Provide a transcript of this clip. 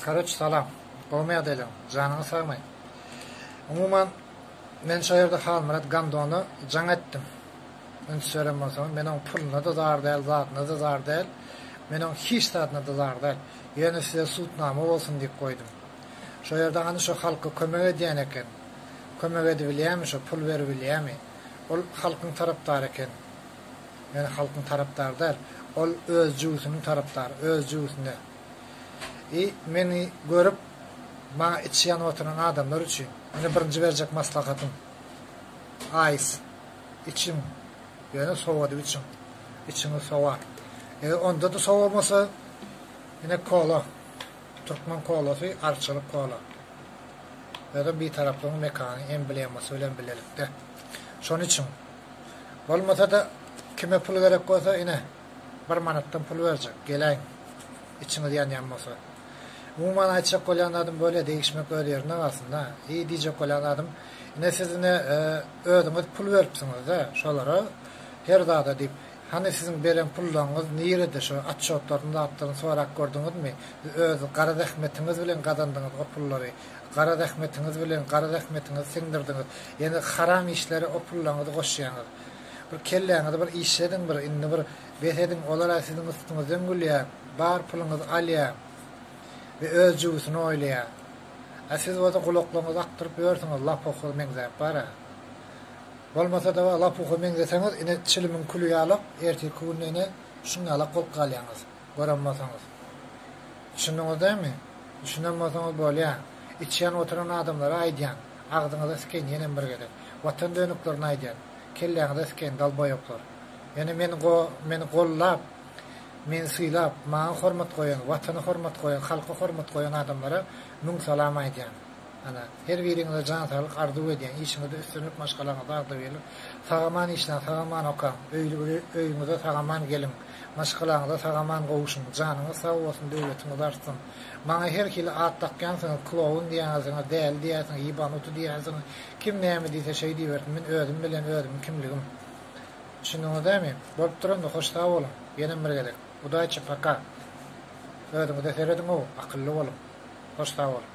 Karoç salam. Gowmy ýagdaýlaň? Janyňyz sagmy? Umuman, men şo ýerde Halmyrat Gamdona jaň etdim. Üns beren bolsaňyz, men oň puluna-da zar däl, zadyna-da zar däl. Men oň hiç zadyna-da zar däl. Ýöne size sudnama bolsun diýip goýdum. Şo ýerde hany şo halka kömek edýän eken. Kömek edibilýämi şo, pul beribilýämi? Ol halkyň tarapdary eken. Meni halkyň tarapdary däl, ol öz jübüsiniň tarapdary, öz jübüsine. I meni görüp, maňa içi ýanyp oturan adamlar üçin, ine birinji berjek maslahatym, aýs içiň, ýöne sowadyp içiň, içiňiz sowar. Eger onda-da sowamasa, ine kola, türkmen kolasy, arçalyk kola. Özem Bitaraplygyň mekany emblemasy bilen bilelikde. Şony içiň. Bolmasa-da, kime pul gerek bolsa, ine, bir manatdan pul berjek, geläýiň, içiňiz ýanýan bolsa. Umuman, aýtjak bolýan zadym bolýa, degişmek öz ýerinde galsyn-da. Eý, diýjek bolýan zadym, ine, siz, ine, özüňiz pul beripsiňiz-dä şolara, her zada diýip. Hany, siziň beren pullaryňyz nirede, şo otçotlaryny, zatlaryny sorap gördüňizmi? Siz öz gara zähmetiňiz bilen gazandyňyz o pullary. Gara zähmetiňiz bilen gara zähmetiňizi siňdirdiňiz. Ýene haram işlere o pullaňyzy goşýaňyz. Bir kelläňizi bir işlediň bir indi bir bes ediň olara siziň üstüňizden gülýä bar puluňyzy alýa we öz jübüsini oýlaýa. A siz bolsa gulaklaryňyzy akdyryp ýörsüňiz lapuha meňzäp bara. Bolmasada lapuha meňzeseňiz ine çilimiň küli ýalak ertirki günde ine şuň ýalak bolup galýaňyz. Göremmasaňyz. Düşündiňiz dämi? Düşünemmasaňyz bolýa. Içýan oturan adamlara aýdýan. Agzyňyza sikeýin ýenem bir gezek. Watan dönüklerini aýdýan. Kelläňize sikeýin dalboýoplar. Ýöne men go meni gollap meni sylap maňa hormat goýan watana hormat goýan halka hormat goýan adamlara müň salam aýdýan. Ana, her biriňize jan saglyk arzuw edýän, işiňizde üstünlik, maşgalaňyzda agzybirlik. Sag-aman işläň, sag-aman okaň, öýli-biri öýüňize sag-aman geliň, maşgalaňyza sag-aman gowuşyň, janyňyz sag bolsun, döwletiňiz artsyn. Maňa her hili at dakýansyňyz, klowun diýýänsiňiz, däli diýýänsiňiz, ýebanuty diýýänsiňiz, kim näme diýse şeý diýibersin, men özüm bilen özümiň kimligim. Düşündiňizdämi? Bolup dur onda, hoş sag boluň, ýenem bir gezek. Udaçi, paka. Özüňize serediň-ow, akylly boluň. Hoş sag boluň.